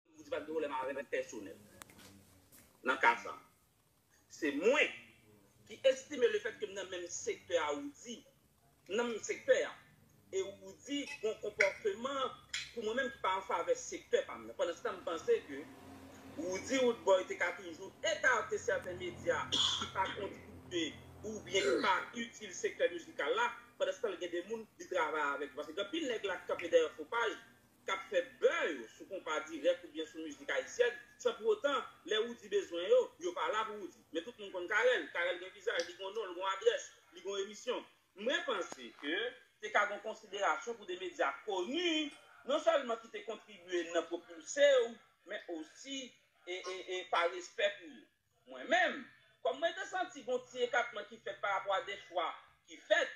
Ou di pa gen pwoblèm avè m pèsonèl. Nan ka sa. Se mwen. Ki estime le fèt ke m nan menm sektè a ou di. M nan menm sektè a. E ou di gon konpòteman pou mwen menm ki pa an favè sektè pa m nan. Pandan se tan m panse ke ou di Roodboy te ka toujou ekate sèten medya ki pa kontribye ou byen ki pa itil sektè mizikal la. Pandan se tan l gen de moun li travay avèk yo. Paske gen anpil nèg la ki kanpe dèyè fo paj. k ap fè bè yo sou konpa dirèk oubyen sou mizik ayisyèn, san pou otan, lè Roody bezwen yo, yo pa la pou Roody. Men tout moun konn Carel, Carel gen vizaj, li gen yon non, l gen yon adrès, li gen yon emisyon. Mwen panse ke te ka gen yon konsiderasyon pou de medya koni, non sèlman ki te kontribye nan pwopilse yo, men osi e pa respè pou yo. Mwen menm, kòm mwen te santi gon ti ekatman ki fèt parapò a de chwa ki fèt,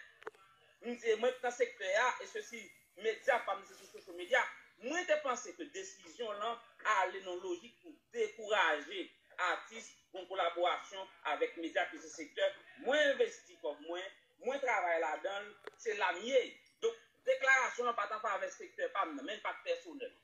m di e mwen k nan sektè a e sesi, medya pa m se sou social media, mwen te panse ke desizyon lan ale nan lojik pou dekouraje atis gon kolaborasyon avèk medya ke se sektè mwen envesti kòb mwen, mwen travay ladan l, se la m ye. Donk deklarasyon lan pa t anfavè sektè pa m nan, men l pa t pèsonèl.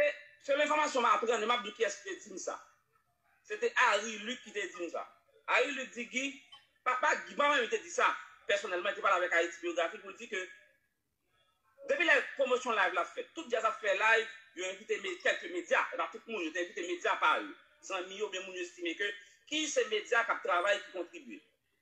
E sèl enfòmasyon m aprann, e m ap di kiyès ki te di m sa. Se te Harry Luc ki te di m sa. Harry Luc di Guy, pa pa Guy, pa menm li te di sa pèsonèlman, li te pale avèk Haïti Biographie pou l di ke depi lè pwomosyon live la fèt, tout djaz ap fè live, yo envite me, kèlke medya, e pa tout moun, yo te envite medya pa yo, zanmi yo oubyen moun yo estime ke ki se medya k ap travay ki kontribye.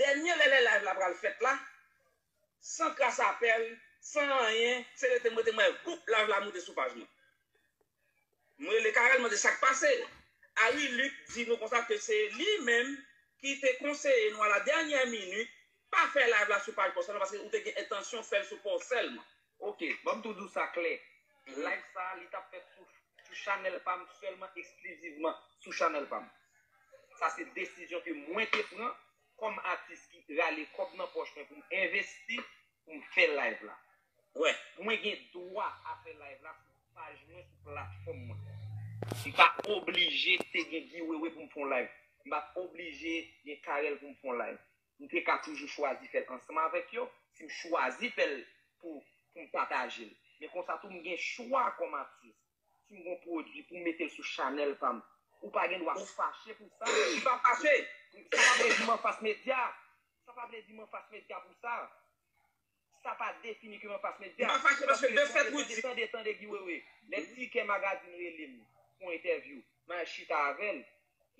Dènye lè lè live la pral fèt la San kras apèl San anyen Se rete m rete m wè Boup live la moute sou paj mwen M rele Carel mande sak pase Harry Luc di nou konsa ke se li menm ki te konseye nou a la dènyè minit Pa fè live la sou paj Paw sèlman paske ou te gen entansyon fèl sou paw sèlman Ok banm tou diw sa klè live sa li tap fèt sou sou chanèl pam sèlman eksklizivman sou chanèl pam sa se desizyon ke mwen te pran kòm atis ki rale kòb nan pòch mwen poum envesti poum fè live la wè mwen gen dwa a fè live la sou paj mwen sou platfòm mwen mpa oblije te gen Guy Wewe poum fon live mpa oblije gen Carel poum fon live m te ka toujou chwazi fè l ansanm avèk yo, si m chwazi fè l pou pou m pataje l. Men konsa tou m gen chwa kòm atis. Si m gen yon pwodui pou m mete l sou chanèl pa m, ou pa gen dwa fache pou sa. M pa fache! Sa pa vle di m anfas medya. Sa pa vle di m anfas medya pou sa. Sa pa defini ke mwen pas met dea. M pa fache paske de fèt Rudy. Tande tande Guy Wewe, lè Tikè Magazine rele m pou yon entèvyou, m al chita avè l.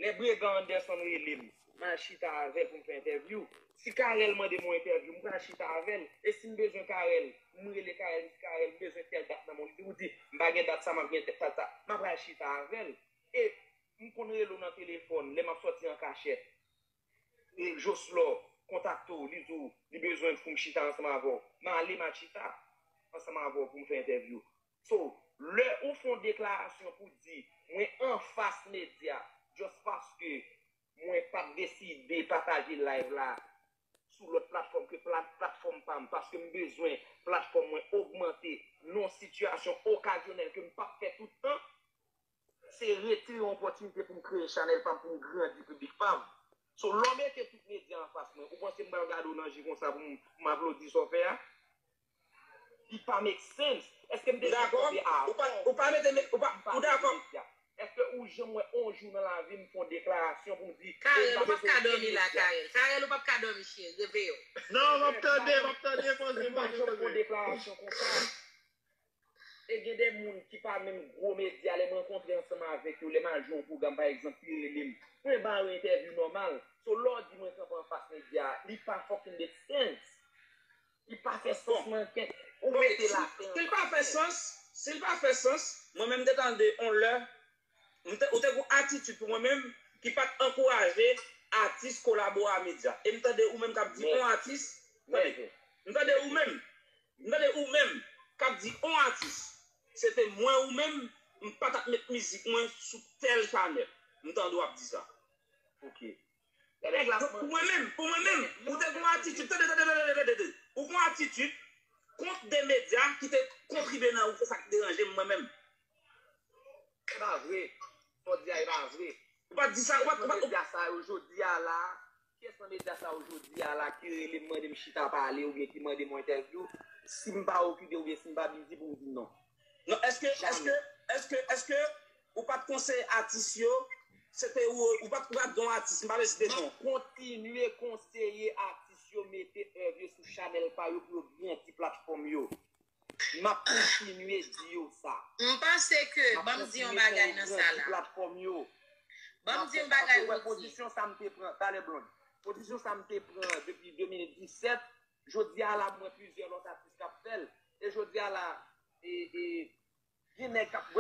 Lè Bregan Anderson rele m, m al chita avè l pou m fè entèvyou. Si Carel mande m yon entèvyou, m pral chita avè l. E si m bezwen Carel, m rele Carel, m di Carel m bezwen tèl dat nan men w. Li di Rudy, m pa gen dat sa, m ap gen dat sa. M apral chita avè l. E m konn rele w nan telefòn lè m ap sòti an kachèt. e Joslor kontakte w li di w li bezwen pou m chita ansanm avè w m ale m a chita ansanm avè w pou m fè entèvyou so lè ou fè yon deklarasyon pou w di mwen anfas medya just paske mwen pa t deside pataje live la sou lòt platfòm ke platfòm pa m paske m bezwen platfòm mwen ogmante nan yon sitiyasyon okazyonèl ke m p ap fè tout tan. se rete yon opòtinite pou m kreye chanèl pa m, pou m grandi piblik pa m. So lè w mete tout medya anfas mwen, ou panse m pral gade w nan je konsa pou m aplodi sa w fè a? Li pa make sense. Èske m te janm panse a avan w pou m di m pa vle gen medya? Èske ou janm wè on jou nan lavi m fè yon deklarasyon pou m di e m pa vle gen medya? Carel, ou pap ka dòmi la Carel. Carel, ou pap ka dòmi cheri, reveye w. Non, m ap tande, m ap tande, m ap tande. M pa janm fè yon deklarasyon konsa. E gen de moun ki pa menm gwo medya lè m rankontre ansanm avèk yo lè m al jwe yon pwogram pa egzanp pi rele m mwen ba yo entèvyou nòmal so lè w di mwen kanpe anfas medya li pa fucking make sense li pa fè sans manke ou mete lapen anba tè. Si l pa fè sans si l pa fè sans mwen menm m te tande yon lè Ou te gon atitid pou mwen menm ki pat ankouraje atis kolabo a medya. E m tande ou menm k ap di on atis, tande, m tande ou menm, m tande ou menm k ap di on atis, se te mwen ou menm, m pa t ap met mizik mwen sou tèl chanèl. M tande w ap di sa. Ok. Pou mwen menm, pou mwen menm, ou te gen yon atitid, tande, tande, tande, tande, tande, ou gen yon atitid kont 2 medya ki te kontribye nan ou, se sa ki deranje m mwen menm. Se pa vre, sa w di a e pa vre. Ou pa t di sa, ou pa t, ou pa t. Ki nan medya sa yo jodi a la, kiyès nan medya sa yo jodi a la ki rele m mande m chita pale oubyen ki mande m yon entèvyou, si m pa okipe oubyen si m pa bizi pou m di non? Non eske eske eske eske ou pat konseye atis yo se te ou ou pat pral gen yon atis m pa vle site non. Map kontinye konseye atis yo mete èv yo sou chanèl pa yo pou yo gen ti platfòm yo. Map kontinye di yo sa. M panse ke banm di yon bagay nan sa la. Map kontinye fè yo gen ti platfòm yo. Banm di yon bagay Roody. Pozisyon sa m te pran talè Blonde. Pozisyon sa m te pran depi 2017. Jodi a la m wè plizyè lòt atis k ap fè l. E jodi a la gen nèg k ap,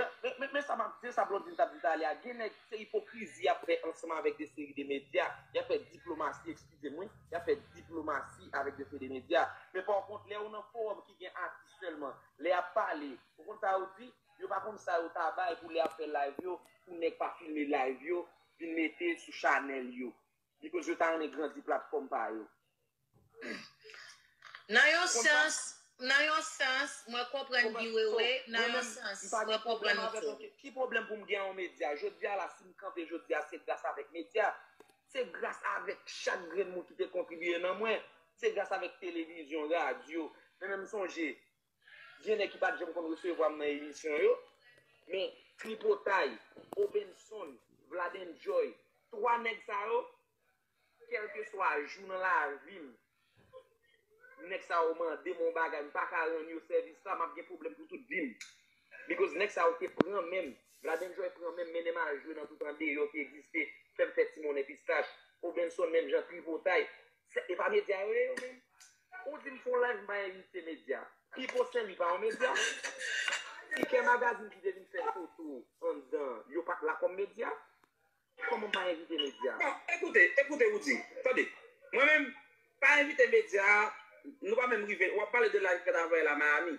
men sa m ap di, sa Blondine t ap di talè a, gen nèg se ipokrizi y ap fè ansanm avèk de seri de medya. Y ap fè diplomasi, ekskize m wi, y ap fè diplomasi avèk de seri de medya. Men pa kont lè ou nan fowòm ki gen atis sèlman, lè y ap pale, ou konn sa yo di? Yo pa konn sa yo ta bay pou lè y ap fè layv yo, pou nèg pa filme layv yo vin mete sou chanèl yo. Because yo ta renmen grandi platfòm pa yo. Nan yon sans, nan yon sans, mwen konprann Guy Wewe, nan yon sans, mwen konprann ou tou. Ki pwoblèm pou m gen yon medya? Jodi a la, si m kanpe jodi a, se gras avèk medya. Se gras avèk chak grenn moun ki te kontribiye nan mwen. Se gras avèk televizyon, radyo. Men men m sonje, Gen nèg ki pa t janm konn resevwa m nan emisyon yo. Men, Tripotay, Obenson, Vladendjoy, 3 nèg sa yo, kèlkeswa jou nan lavi m, nèg sa yo mande m yon bagay, m pa ka rann yo sèvis la, m ap gen pwoblèm pou tout vi m. Bikòz nèg sa yo te pran men m. Vladendjoy pran men m, mennen m al jwe nan tout andeyò ki egziste, fè m fè ti monnen pistach. Obenson menm jan, Tripotay. Se pa media yo ye yo menm? Ou dim fon live m pa envite media. Pipo Sen Lwi pa yon media? Tikè magazine ki te vin fè foto anndan yo pat la kòm media? Kòman m pa envite media? Bon, ekoute, ekoute ou di. Tande. Mwen menm, pa envite media, nou pa menm rive, wap pale de live fèt avè la Miami.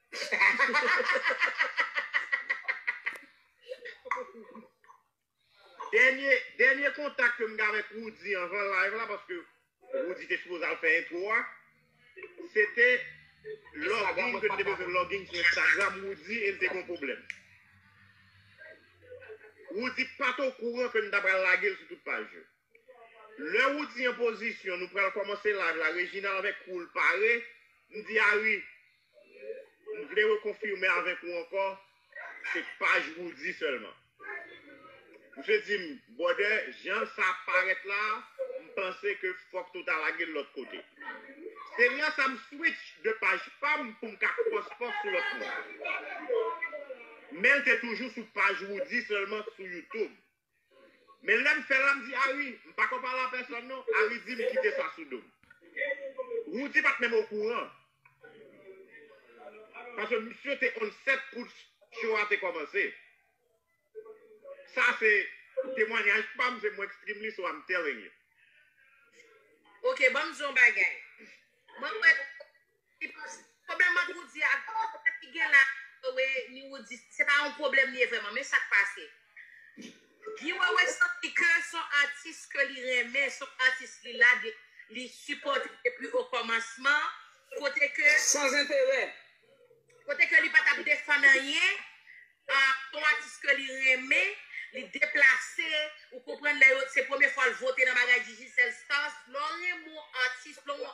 Dènye, dènye kontak ke m gen avèk Roody anvan live la, paske Roody te sipoze al fè entwo a, se te login ke n te bezwen login sou Instagram Roody e n te gen yon pwoblèm. Roody pa t okouran ke n ta pral lage l sou tout paj yo. Lè Roody an pozisyon nou pral kòmanse live la Reginald avèk crew l pare m di Ary m vle rekonfime avèk ou ankò se paj Roody sèlman Misye di m brother jan sa ap parèt la m panse ke fòk nou ta lage l lòt kote se lè sa m switch de paj pa m pou m ka cross post sou lòt moun men l te toujou sou paj Roody sèlman sou YouTube. Men lèm fèl la mdi Ari m pako pale a pèsòn non Ari dim kite sa sou dom Roody pat menm okouran paske misye te on set kout show a te komanse sa se temwanyaj pam se mwen k stream li so I'm telling you. Ok banm di yon bagay mwen wè Pwoblèm ant Woody ak Goo, pwoblèm ki gen la Goo Wewe ni Woody, se pa yon pwoblèm li ye vrèman, men sak pase, Goo Wewe santi ke son atis ke li renmen, son atis li la de, li sipòte depi o kòmansman, kote ke, San zenterè. kote ke li pa tap defann anyen, son atis ke li renmen, li deplase, ou konprann lè yo, se premye fwa l vote nan bagay Digicel Stars, lè w renmen yon atis, lè w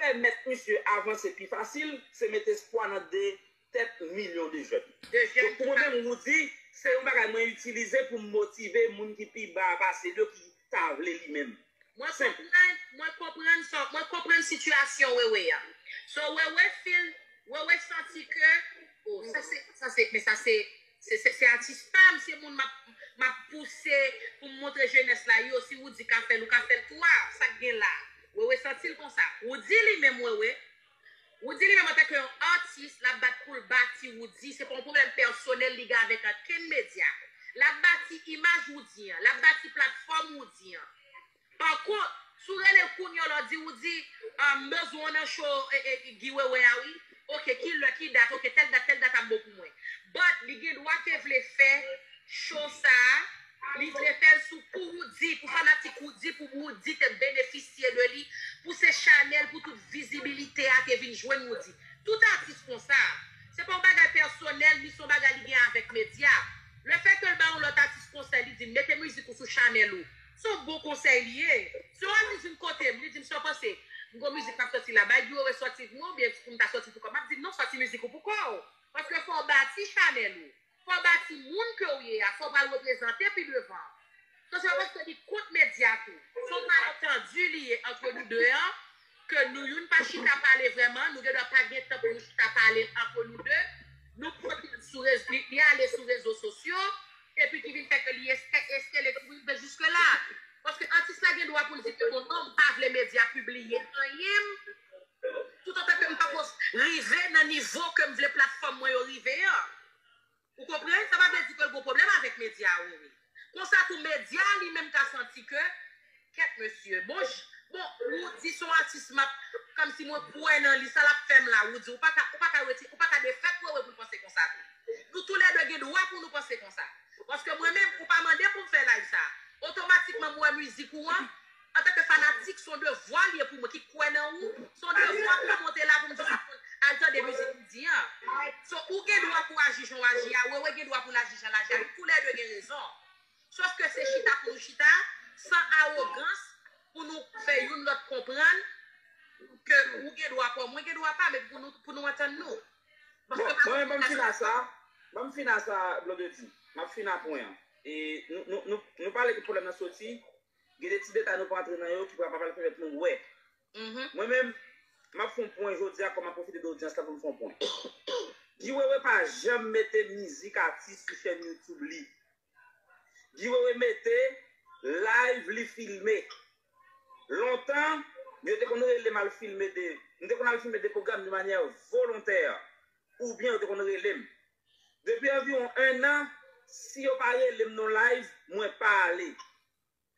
Pèmèt misye avanse pi fasil, se met espwa nan 2 tèt milyon de jèn. Donk pou mwen menm Roudy, se yon bagay mwen itilize pou m motive moun ki pi ba a pase l yo ki ta vle li menm. Mwen konprann, mwen konprann sa w, mwen konprann sitiyasyon Wewe a. So Wewe feel, Wewe santi ke, oh sa se, sa se, men sa se Se atis pam se moun map pouse poum montre jenès la yo si Roody ka fèl ou ka fèl tou a sak gen la Wewe santil konsa Roody li menm Wewe Roody li menm antanke yon atis lap bat poul bati Roody se pa yon pwoblèm pèsonèl li gen avèk ankenn medya lap bati imaj Roody an lap bati platfòm Roody an Pakont, si w rele kounye w la w di ou di, M bezwen w nan show Guy Wewe a wi. Ok, ki lè, ki dat? Ok, tèl dat, tèl dat ap bon pou mwen. But, li gen dwa te vle fè show sa a, li vle fè l sou pou Roody, pou fanatik Roody, pou Roody te benefisye de li, pou se chanèl pou tout vizibilite a te vin jwenn Roody. Tout atis konsa. Se pa yon bagay pèsonèl, ni se yon bagay li gen avèk medya. Le fè ke l ba yon lòt atis konsèy, li di l, mete mizik ou sou chanèl ou. Se yon bon konsèy li ye. Se yon atis vin kotem li dim sa w panse m gon mizik map sòti la bay Guiro e sòti vmw ou byen poum ta sòti poukòm map dil non sòti mizik ou poukòw paske fòw bati chanèl ou fòw bati moun kew ye a fòw pral reprezante pi devan so se pa paske li kont medya tou. Son malentendu li ye entre nous deux an Ke nou youn pa chita pale vrèman, nou gen dwa pa gen tan pou nou chita pale antre nou de, nou pote l sou rezo, li ale sou rezo sosyo, epi ki vin fè ke li eske, eske li tou rive jiske la. Paske atis la gen dwa pou l di ke bon non, m pa vle medya pibliye anyen m, toutotan ke m pako rive nan nivo ke m vle platfòm mwen yo rive an. Ou konprann? Sa pa vle di ke l gon pwoblèm avèk medya a wi. Konsa tou medya a li menm ka santi ke, kèt mesye, bon ch, bon Roody son atis m ap, kòmsi mwen kwè nan li, sa l ap fè m la Roody? Ou pa ka, ou pa ka reti, ou pa ka defèt Wewe pou l panse konsa tou. Nou tou lè de gen dwa pou nou panse konsa. Paske mwen menm, ou pa mande pou m fè live sa a. Otomatikman m wè mizik ou an, Antanke fanatik, son devwa li ye pou mwen ki kwè nan ou, son devwa pou m monte la pou m di tout moun al tande mizik li di an. So ou gen dwa pou aji jan w aji a, Wewe gen dwa pou l aji jan l aji a, nou tou lè 2 gen rezon. Sof ke se chita pou nou chita, san awogans, pou nou fè youn lòt konprann ke ou gen dwa pa w, mwen gen dwa pa m epi pou nou pou nou antann nou. Bon, mwen menm ban m fina sa, ban m fina sa Blondedy, m ap fina pwen an. E nou nou nou pale ke pwoblèm nan soti Gen de ti detay nou pa antre nan yo ki pral pa pral pèmèt nou wè. Mwen menm, m ap fè yon pwen jodi a kòm m ap pwofite de odyans la pou m fè yon pwen. Guy Wewe pa janm mete mizik atis sou chèn YouTube li. Guy Wewe mete live li filme. Lontan, yo te konn rele m al filme de, m te konn al filme de pwogram de manyè volontè oubyen yo te konn rele m Depi anviwon 1 nan si yo pa relem non live mwen pa ale.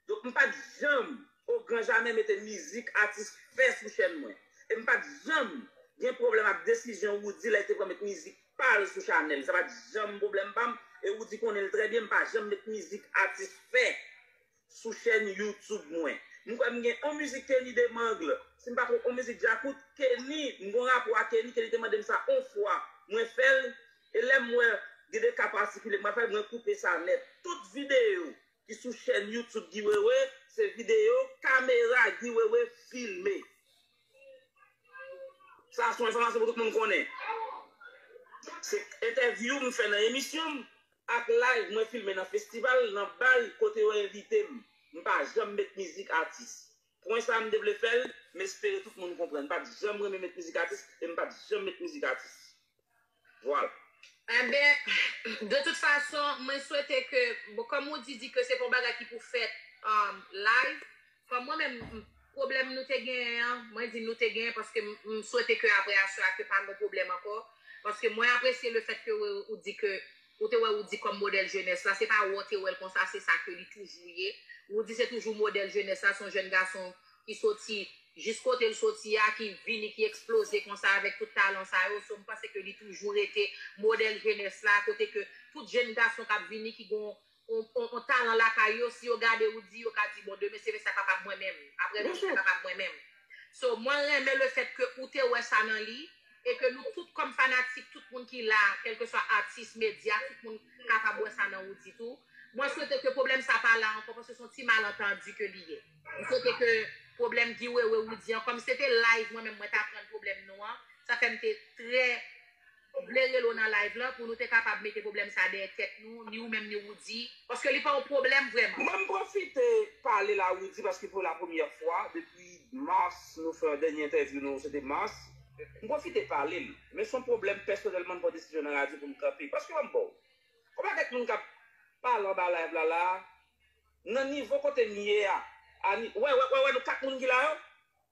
Donk m pat janm o gran jamè mete mizik atis fè sou chèn mwen. E m pat janm gen pwoblèm ak desizyon Roody lè l te pran met mizik pa l sou chanèl. Sa pat janm pwoblèm pa m e Roody konnen l trè byen m pa janm met mizik atis fè Sou chèn YouTube mwen. M kwè m gen on mizik Kenny Demangle, si m pa twonp on mizik Djakout, Kenny, m gon rapò a Kenny, Kenny te mande m sa on fwa, mwen fè l, e lè m wè gen de ka patikilye m pa fè l, mwen koupe sa nèt. Tout videyo ki sou chèn YouTube Guy Wewe, se videyo kamera Guy Wewe filme. Sa son enfòmasyon pou tout moun konnen. Se entèvyou m fè nan emisyon m. ak live mwen filme nan festival, nan bal kote yo envite m, m pa janm met mizik atis. Pwen sa m te vle fè l, m espere tout moun konprann. M pa t janm renmen met mizik atis e m pa t janm met mizik atis. Vwala. Enben, de tout fason, mwen swete ke, bon, kòm Roody di ke se pa yon bagay ki pou fèt live, Kòm mwen menm, pwoblèm nou te genyen an, mwen di nou te genyen paske m swete ke aprè aswè a ke pa gon pwoblèm ankò, paske mwen apresye le fèt ke ou di ke ou te wè Roody kòm modèl jenès la, se pa wè w te wè l konsa se sa ke li toujou ye. Roody se toujou modèl jenès la, se yon jèn gason ki soti jis kote l soti a, ki vini, ki eksploze konsa avèk tout talan sa yo, so m panse ke li toujou rete modèl jenès la, kote ke tout jenn gason k ap vini ki gon on talan lakay yo si yo gade ou di yo ka di bon demen se fè sa papa mwen menm aprè nou se fè papa mwen menm so mwen renmen le fèt ke ou te wè sa nan li e ke nou tout kòm fanatik tout moun ki la kelkeswa atis medya tout moun kapab wè sa nan ou di tou mwen swete ke pwoblèm sa pa la ankò paske son ti malantandi ke li ye mwen swete ke pwoblèm Guy Wewe Roody an kòm se te live mwen menm mwen ta prann pwoblèm nou an sa fèm te trè. Ou vle rele w nan live lan pou nou te kapab mete pwoblèm sa dèyè tèt nou, ni ou menm ni Roody, paske li pa yon pwoblèm vrèman. Mwen pwofite pale la Roody paske pou la premyè fwa depi Mars nou fè dènye entèvyou nou se te Mars, m pwofite pale l, men son pwoblèm pèsonèlman m pran desizyon nan radyo pou m kanpe, paske ban m ba w konpa kèk moun k ap pale anba live la la a nan nivo kote m ye a, a ni wè wè wè wè nou 4 moun ki la yo.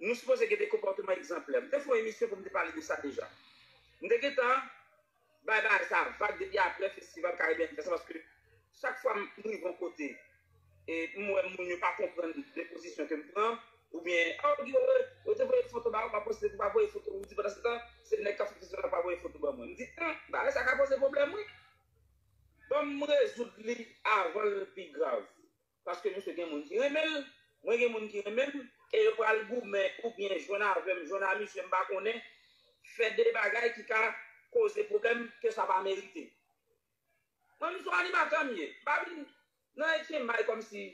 Nou sipoze gen de konpòteman egzanplè. M te fè yon emisyon pou m te pale de sa deja. M te gentan bay bagay sa a vag depi apre festival Caribbean Fest la paske chak fwa m rive yon kote e m wè moun yo pa konprann de pozisyon ke m pran oubyen oh Guy Wewe yo te voye foto ba ou pa poste pou pa voye foto ou di pandansetan se nèg k ap fè festival la pa voye foto ban mwen. M di humm bagay sa ka poze pwoblèm wi. Ban m rezoud li avan l pi grav. Paske misye gen moun ki renmen l, mwen gen moun ki renmen m, e yo pral goumen oubyen jwenn avè m, jwenn a misye m pa konnen, fè de bagay ki ka koze pwoblèm ke sa pa merite. Mwen menm se yon animatè m ye, m pa vin nan Etyen May kòmsi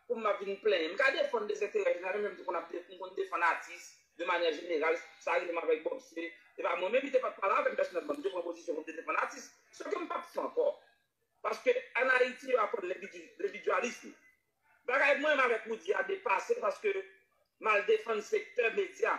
pou m ap vin plenyen. M ka defann de zentèrè jeneral, menm jan m te konn ap m konn defann atis de manyè jeneral, sa rive m avèk Bob se te pa mwen menm li te pat pale avè m pèsonèlman, m te pran pozisyon pou m te defann atis, sèke m pap fè ankò. paske an Ayiti yo aprann lendividyalism. Bagay mwen menm avèk Roody a depase paske m al defann sektè medya.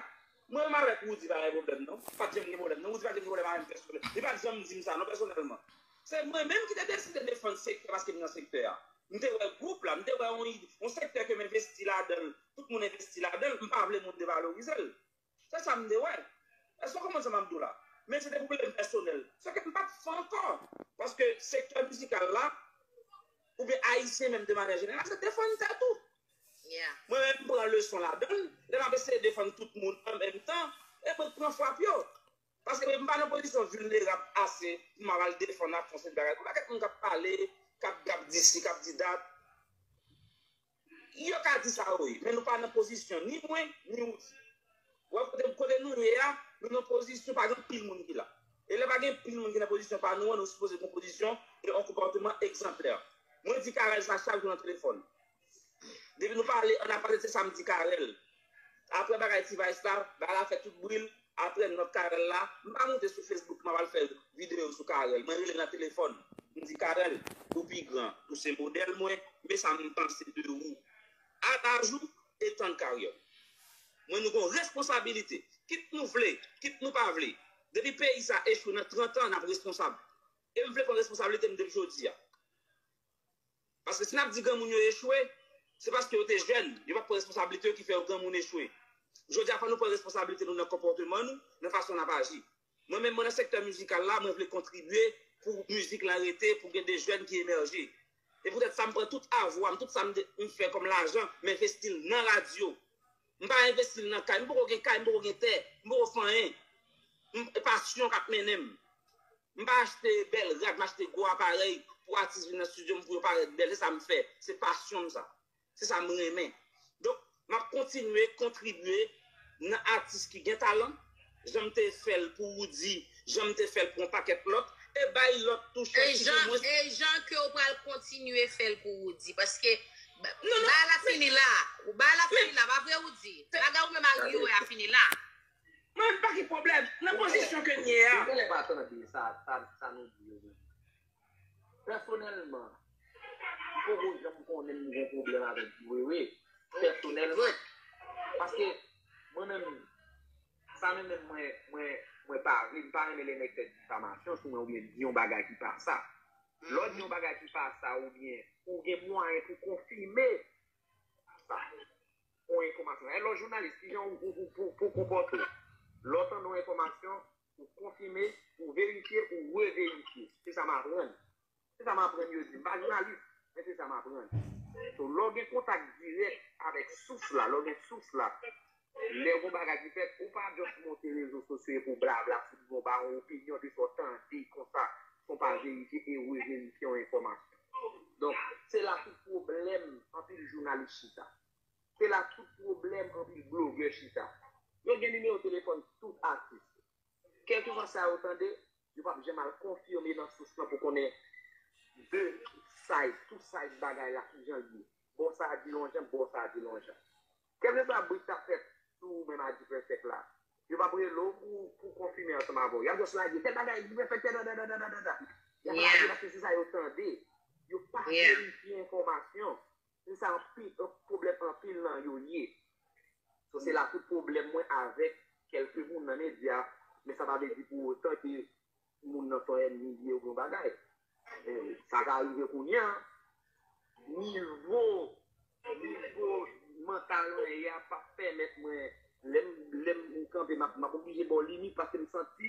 Mwen menm avèk Roody pa gen pwoblèm non. Pat janm gen pwoblèm non. Roody pat janm gen pwoblèm avèm pèsonèl. Li pat janm di m sa non pèsonèlman. Se mwen menm ki te deside defann sektè paske m nan sektè a. M te wè gwoup la, m te wè yon sektè ke m envesti ladan l, tout moun envesti ladan l, m pa vle moun devalorize l. Se sa m te wè. Èske w konprann sa m ap di w la? Men se te pou plen pèsonèl. Sa fè m pa t fè ankò. Paske sektè mizikal la, oubyen Ayisyen menm de manyè jeneral, se defann tèt ou. Mwen menm m pran leson ladan l, lè m ap eseye defann tout moun an menm tan, e mwen k pran frap yo. Paske m pa nan pozisyon vilnerab ase pou m ap al defann ak fon seri bagay konsa. Kèk moun k ap pale, k ap di si, k ap di dat. Yo ka di sa yo ye, men nou pa nan pozisyon, ni mwen, ni ou di. Wè kote, kote nou ye a, nou nan pozisyon pa gen pil moun ki la. E lè pa gen pil moun ki nan pozisyon pa nou an, nou sipoze gen yon pozisyon e yon konpòteman egzanplè. Mwen di Carel sa chak jou nan telefòn. Depi nou pale annapase se sa m di Carel. Aprè bagay T-vice la, bagay la fè tout bri l, aprè nòt Carel la, m pa moute sou Facebook m ap al fè videyo sou Carel, mwen rele l nan telefòn, m di Carel, ou pi gran, ou se modèl mwen, men sa m panse de ou, a laj ou e tan karyè w. Mwen nou gen yon responsabilite, kit nou vle, kit nou pa vle, depi peyi sa echwe nan 30 an n ap responsab, e m vle pran responsabilite m depi jodi a. Paske si n ap di granmoun yo echwe, se paske yo te jèn, yo pa t pran responsablite yo ki fè yo granmoun echwe. Jodi a fò nou pran responsablite nou nan konpòteman nou, nan fason n ap aji. Mwen menm, mwen nan sektè mizikal la, mwen vle kontribye pou mizik lan rete, pou gen de jèn ki emèje. E poutèt sa m pran tout avwa m, tout sa m fè kòm lajan, m envesti l nan radyo. M pa envesti l nan kay. M poko gen kay, m poko gen tè, m poko fè anyen. E pasyon k ap mennen m. M pa achte bèl rad, m achte gwo aparèy pou atis vin nan stidyo m pou yo parèt bèl. Se sa m fè. Se pasyon m sa. Se sa m renmen. Donk, m ap kontinye kontribye nan atis ki gen talan. Jan m te fè l pou Roody, jan m te fè l pou yon pakèt lòt, e bay lòt tou chans ki gen mwens. E jan ke w pral kontinye fè l pou Roody. Paske, bagay la fini la. Bagay la fini la, pa vre Roody? Bagay ou menm ak Yoe a fini la. Mwen pa gen pwoblèm. Nan pozisyon ke m ye a. Ou genlè pa tande sa nou di yo menm. Pèsonèlman, m poko janm konnen m gen pwoblèm avèk Wewe, pèsonèlman. Paske, mwen menm, sa menm menm mwen, mwen, mwen pa vle, m pa renmen lè nèg fè difamasyon sou mwen oubyen di yon bagay ki pa sa. Lè w di yon bagay ki pa sa oubyen ou gen mwayen pou konfime sa, yon enfòmasyon. Alò, jounalis, ki jan ou, ou, ou pou, pou w konpòte w lè w tande yon enfòmasyon? ou konfime, ou verifye, ou reverifye. Se sa m aprann. Se sa m aprann yo di m. M pa jounalis, men se sa m aprann. So, lè w gen kontak dirèk avèk sous la, lè w gen sous la, lè gon bagay ki fèt, ou pa just monte rezo sosyo epi w blabla sou li, ou ba yon opinyon de sa w tande konsa, san w pa verifye e reverifye yon enfòmasyon. Donk, se la tout pwoblèm anpil jounalis chita. Se la tout pwoblèm anpil blogè chita. Yo gen nimewo telefòn tout atis. Kèlkeswa sa yo tande, yo pa p janm al konfime nan sous lan pou konnen de side, two side bagay la ki jan l ye. Bò sa a di yon jan, bò sa a di yon jan. Kèlkeswa bri k ta fèt sou ou menm Adipèsèk la, yo pa p rele w pou konfime ansanm avè w. Y ap jis lage tèl bagay Adipèsèk fè dadadadadada. Y ap lage paske se sa yo tande. Yo pa verifye enfòmasyon. Se sa anpil pwoblèm anpil nan yo ye. So se la tout pwoblèm mwen avèk kèlke moun nan medya, men sa pa vle di pou otan ke moun nan son ènmi li oubyen yon bagay. Men sa ka rive kounya, nivo, nivo mantal mwen ye a pap pèmèt mwen, lèm, lèm kanpe map, map oblije baw limit paske m santi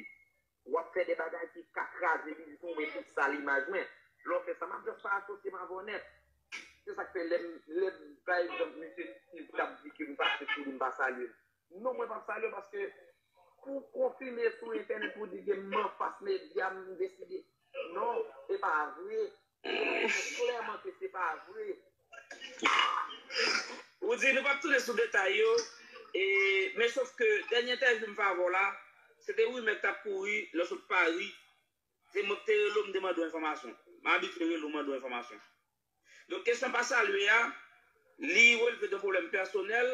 Wap fè de bagay ki ka kraze biznis mwen pou sal imaj mwen. Lè w fè sa map just pa asosye m avè w nèt. Se sak fè lèm lèm pa egzanp misye Steve kap di ke m pase sou li m pa salye l. Non mwen pap salye w paske pou w konfime sou entènèt pou w di ke m anfas medya m deside non e pa vre. Klèman ke se pa vre. Ou di nou pap tounen sou detay yo, e men sof ke dènye entèvyou m fè avè w la, se te rimè k tap kouri lè w sot Pari, se mwen ki te rele w m te mande w enfòmasyon. M abitye rele w mande w enfòmasyon. Donk kesyon pa salye a, li relve de pwoblèm pèsonèl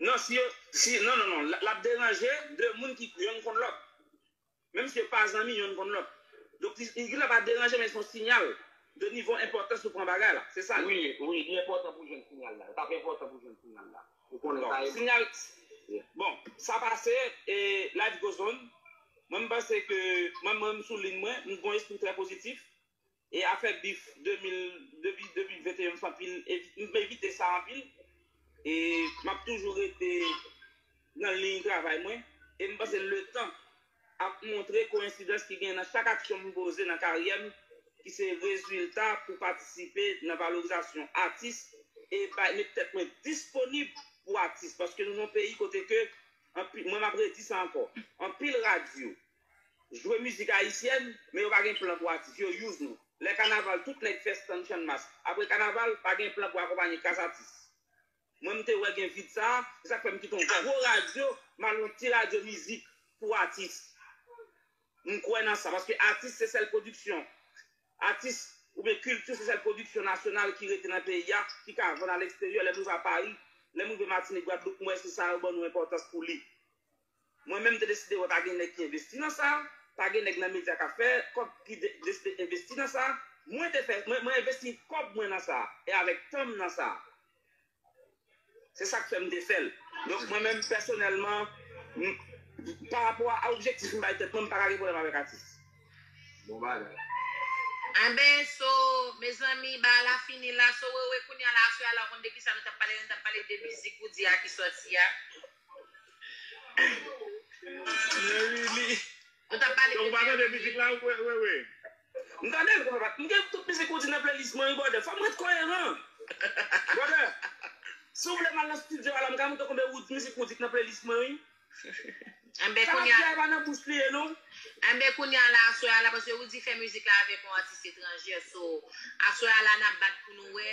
Non si yo si non non non lap deranje 2 moun ki yonn konn lòt menm si yo pa zanmi yonn konn lòt donk li li gentan pa deranje men son sinyal de nivo enpòtans ou pran bagay la se sa li ye. Wi wi li enpòtan pou jwenn sinyal la yo tap enpòtan pou jwenn sinyal la ou konnen sa bon sinyal bon sa pase e life goes on mwen m panse ke mwen mwen m sou lin mwen m gon espri trè pozitif E afè bif 2000 depi 2021 m fè anpil m evite sa anpil e map toujou rete nan liy travay mwen e m panse letan ap montre koyensidans ki genyen nan chak aksyon m poze nan karyè m ki se rezilta pou patisipe nan valorizasyon atis e bay met tèt mwen disponib pou atis paske nou nan yon peyi kote ke anpi mwen map redi sa ankò anpil radyo jwe mizik ayisyèn men yo pa gen plan pou atis yo use nou lè kanaval tout nèg fè stand channmas apre kanaval pa gen plan pou akonpanye kas atis mwen m te wè gen vid sa se sak fè m kite yon gwo radyo m al yon ti radyo mizik pou atis m kwè nan sa paske atis se sèl pwodiksyon atis oubyen kilti se sèl pwodiksyon nasyonal ki rete nan peyi a ki ka vann alèksteryè lè m rive a Paris lè m rive Martinique Guadeloupe m wè se sa yo ban nou enpòtans pou li. Mwen menm m te deside wè pa gen nèg ki envesti nan sa, pa gen nèg nan medya k ap fè kòb ki deside envesti nan sa, mwen te fè mwen envesti kòb mwen nan sa e avèk tan m nan sa. Se sa k fè m te fè l. Donk mwen menm pèsonèlman parapò a objektif m bay tèt mwen m pa ka gen pwoblèm avèk atis. Bon bagay. Enben so mezanmi bagay la fini la so wewe kounya la aswè a la ou konn de kisa nou t ap pale nou t ap pale de mizik ou di a ki sòti a. Ou tap pale de Pierre Louis. M tande l papa, m gen tout mizik ou di nan playlist mwen wi brother, fòm ret koyeran brother, si w vle m al nan studio a la m ka montre w konbyen ou mizik ou di k nan playlist mwen wi. Enben Sa lap di a e pa nan bouch li ye non. Enben kounya la aswè a la paske Rudy fè mizik la avèk yon atis etranjè so aswè a la nap bat pou nou wè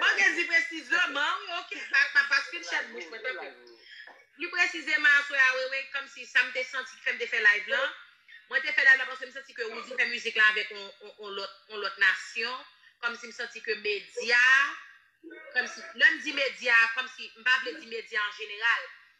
Bagè di presizeman wi ok pa paskil chèn bouch mwen tanpri pli presizeman aswè a wewe kòmsi sam te santi ki fèm te fè live lan mwen te fè live lan paske m santi ke Roody fè mizik lan avèk on lòt on lòt nasyon kòmsi m santi ke medya kòmsi lèm di medya kòmsi m pa vle di medya an jeneral